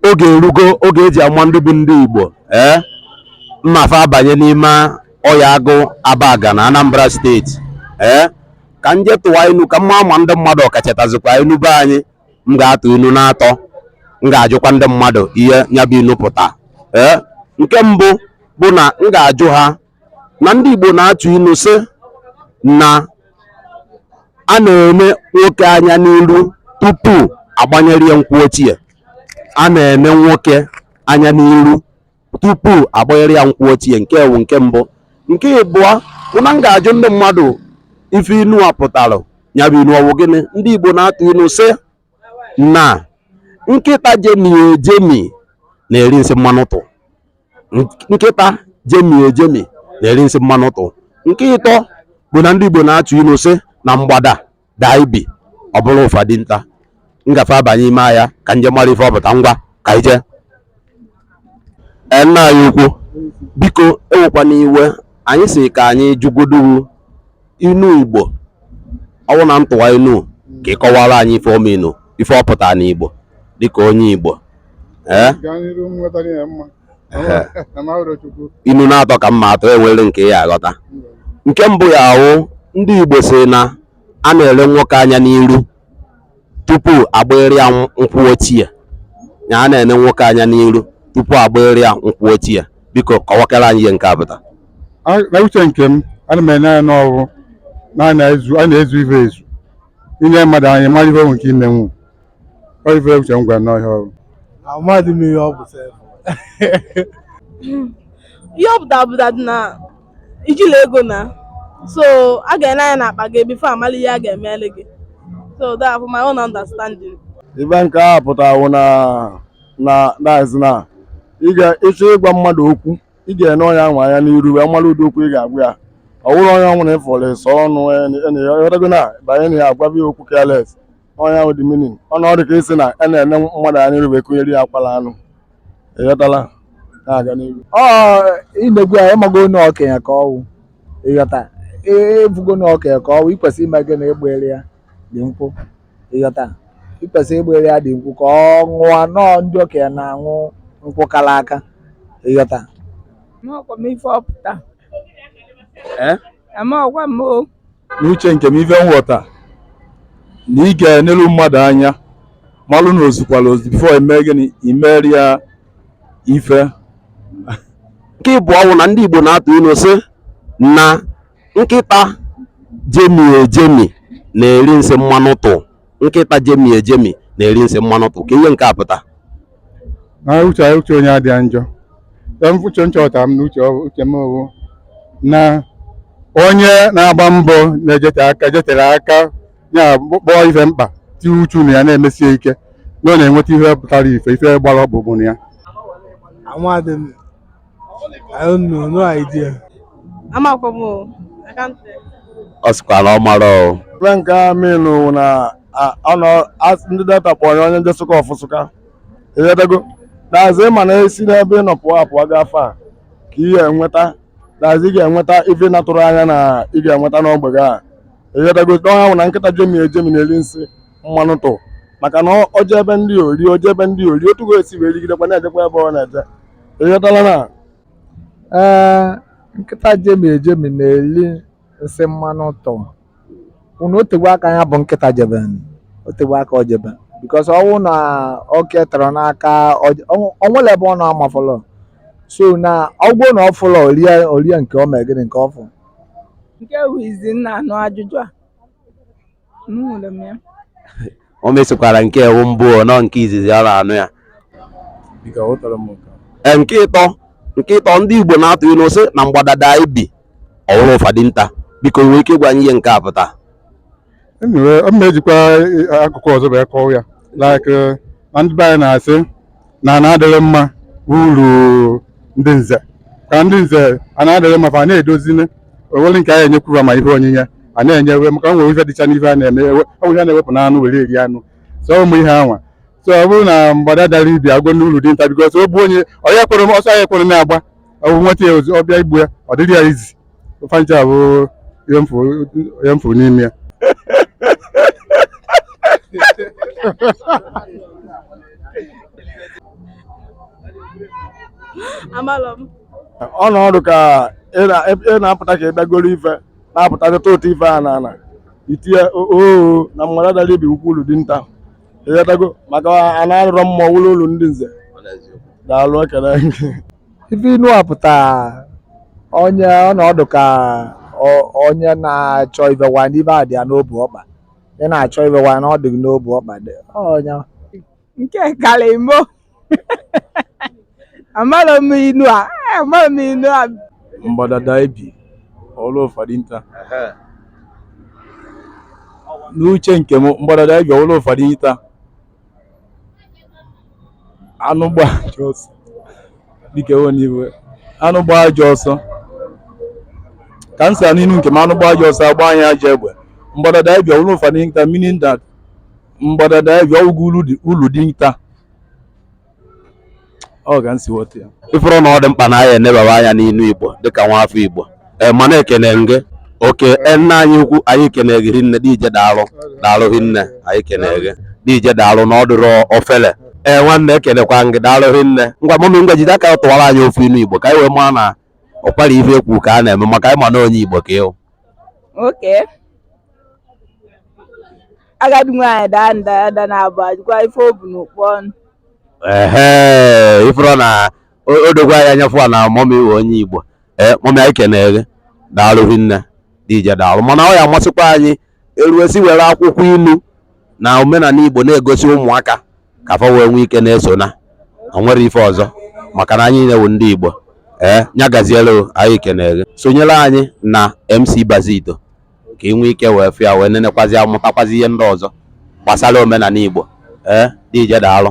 oge erugo oge eji ama ndị bụ ndị Igbo ee eh? m mafe abanye n'ime Oye Agụ Abagana Anambra steeti ee eh? ka m jee tụwa inu ka m maa ma ndị mmadụ ọ ka chetazikwa inu be anyị m ga-atụ inu n'atọ m ga-ajụkwa ndị mmadụ ihe nya bụ inu pụta ee eh? nke mbụ bụ na m ga-ajụ ha na ndị Igbo na-atụ inu sị na a na-ene nwoke anya n'iru tupu a gbanyere ya nkwụ ochie a na-ene nwoke anya n'iru tupu a gbanyere ya nkwụ ochie nke a wụ nke mbụ nke ịbụọ bụ na m ga-ajụ ndị mmadụ ife inu a pụtara nya bụ inu ọ wụ gịnị ndị Igbo na-atụ inu sị na nkịta jemie ejemi na-eri nsị mmanụ tụ nkịta jemie ejemi na-eri nsị mmanụ tụ nke ịtọ bụ na ndị Igbo na-atụ inu sị na mgbada daa ibi ọ bụrụ ụfa dinta m gafe abanye ime ahịa ka m je mara ife ọ pụta ngwa ka ije Ee, nna anyị ukwu, biko ewekwana iwe anyị sị ka anyị jụgodu inu igbo ọ wụ na m tụwa inu ka ị kọwara anyị ife ọma inu ife ọ pụtara n'igbo dịka onye igbo ee gaa n'iru nweta ihe mma Ehe. amahụrụ chukwu inu n'atọ ka m ma-atụ e nwere nke ị ya-aghọta nke mbụ ya-awụ ndị igbo sị na a na-ele nwoke anya n'iru tupu a gbarị ya nkwụ ochie ya a na-ene nwoke anya n'iru tupu a gbarị ya nkwụ ochie biko kọwakara anyị ihe nke a pụtara A- na uche nke m ana m ene anya na ọ bụ na a na-ezu a na-ezu ife ezu ine mmadụ anya mara ife o nwe ike imenwu ọ ife uche m gwara na ọ ihe ọ wụ Amaghị m ihe ọ bụ sef. ihe ọ pụtara bụ that na i jila ego na so a ga-ene anya n'akpa gị before a mala ihe a ga-emele gị so that for my own understanding ive nke a pụtara na na that's na ị ga ịchọ ịgwa mmadụ okwu ị ga-ene onye ahụ anya n'iru wee mara ụdị okwu ị ga-agwa ya ọ bụrọ onye ọwụla ị fụrụ ịsọ ọnụ ị ghọtago na banye na ya agwaba ya okwu careless ọ nya wụ the meaning ọ na ọ dị ka ị sị na a na-ene mmadụ anya n'iru wee kụnyere ya akwala anụ ị ghọtala na-aga n'ihu ọ i negwu ya ị mago na okenye ka ọ wụ ị ghọta ị vụgo na okenye ka ọ wụ i kwesị ime gịnị ịgbara ya the nkwụ ị ghọta i kwesị ịgbara ya the nkwụ ka ọ ṅụọ na ọ ndị okenye na-aṅụ nkwụ kara aka ị ghọta Amaghịkwa m ife ọ pụta. Eh? Amaghịkwa m o. n'uche nke m ife m ghọta na ị ga-enelu mmadụ anya malụ na o zukwala ozu before e mee gịnị i meri ya ife nke ịbụọ wụ na ndị Igbo na-atụ inu sị na nkịta jemi ejemi na-eri nsị mmanụ tụ nkịta jemi ejemi na-eri nsị mmanụ tụ ka ihe nke a pụta na uche uche onye adịa njọ Em, uche nchọta m na uche ọ- uche m bụ na onye na-agba mbọ na-ejete aka jetere aka ya bụ kpọọ ife mkpa tinye uchu na ya na-emesie ike na ọ na-enweta ihe pụtara ife ife gbara ọkpụkpụ na ya Amadị m I don't know, no idea. Amakwa m o. I can't tell. ọ sịkwa na ọ mara o Ife nke a mean wụ na a- ọ nọ as- ndị data kpọrọ ya onye jesụka ọ fụsụka ịghọtago that is ị ma na e si n'ebe ị nọ pụọ apụọ gaa far ka ị ga-enweta that is ị ga-enweta ife ị na-atụrọ anya na ị ga-enweta n'ogbe gị a ịghọtago n'ọha wụ na nkịta jemi ejemi na-eri nsị mmanụ tụ maka na ọ- oje ebe ndị ori oje ebe ndị ori otu ga-esi wee rigidekwa na-ejekwa ebe ọ na-eje ịghọtala na ee nkịta jemi ejemi na-eli nsị mmanụ ụtọ unu o tekwa aka ya bụ nkịta jebe o tekwa aka o jebe because ọ wụ na oke tọrọ n'aka o nwere ebe ọ na-amafọlọ so na ọ wụ na ọ fụlọ orie orie nke ọ mee gịnị nke ọ fụ nke wụ izi m na-anụ ajụjụ a o mesikwara nke a wụ mbụ nọ nke izizi ọ na-anụ ya ee nke ịtọ nke ịtọ ndị Igbo na-atụ ilu sị na mgbada daa ibi ọ wụrụ ụfa dinta biko i nwee ike ịgwa anyị ihe nke a pụta m na-ejikwa akụkụ ọzọ bụ ịkọwa ya like na ndị be anyị na-asị na ana adịghị mma uru ndị nze ka ndị nze ana adịghị mma fa a na-edozi e nwere ike a ya-enyekwu fa ma ihe onyinye a na-enyewe maka o nwere ife dịcha n'ife a na-eme ewe- ọ bụ ihe a na-ewepụ n'anụ were eri anụ so ụmụ ihe anwa so ọ bụrụ na mgbada dara ibi ọ wụ uru dinta because ọ bụ onye ọ ya kwere m ọsọ ya kwere na-agba ọ bụ nweta ya ozi ọ bịa igbu ya ọ dịrị ya easy fancha bụ ihe m fụ ihe m fụ n'ime ya amalọ m ọ nọọ dị ka ị na- ị na-apụta ka ị bịagoro ife na-apụta dịta ụtọ ife a na ana itinye oo na mgbada dara ibi ọ wụ ulu dinta ịghọtago maka ana adịrọ mma wụlụ ulu ndị nze daalụ ekele ife inu a pụta onye ọ nọọ dị ka o- onye na-achọ ife gwa ndị ife a dị ya n'obu ọkpa ị na-achọ ife gwa na ọ dị gị n'obu ọkpa dị onye nke kara imo amara m inu a eh, amara m inu a mgbada daa ibi ọ wụrụ ụfa dinta n'uche nke m mgbada daa ibi ọ wụrụ ụfa dinta anụ gbaa ajọ ọsọ dịka ewe n'iwe anụ gbaa ajọ ọsọ ka m sa n'inu nke m anụ gbaa ajọ ọsọ a gbanyị ya ajọ egbe mgbada daa ibi ọ wụrụ ụfọ dinta meaning that mgbada daa ibi ọ wụrụ ulu dinta ọ ka m si ghọta ya ị fụrụ na ọ dị mkpa na anyị enebaba anya n'inu igbo dịka nwa afọ igbo ee mana ekene gị okay nna anyị ukwu anyị kene gị rinne deeje daalụ daalụ rinne anyị kene gị deeje daalụ na ọ dịrọ ofele ee nwanne ekenekwa gị daalụ rinne ngwa mummy ngwa jide aka tụwara anyị ofu inu igbo ka anyị wee maa na ọkwara ife ekwu ka a na-eme maka anyị ma na onye igbo ka ị wụ okay agadi nwaanyị daa nda ada naabọ a gụkwa ife o bu n'ụkpa ọnụ ehe ị fụrụ na o- o dogwa anyị anya fụ na mummy wụ onye igbo ee mummy anyị kenere gị daalụ hinne deeje daalụ mana ọ ya-amasịkwa anyị eruesi were akwụkwọ inu na omenala igbo na-egosi ụmụaka ka fa wee nwee ike na-eso na o nwere ife ọzọ maka na anyị wụ ndị igbo ee nya gaziere o, anyị kenere gị sonyere anyị na mc bazito ka ị nwee ike wee fụ ya wee nenekwazi ya mụtakwazi ihe ndị ọzọ gbasara omenala Igbo ee deeje daalụ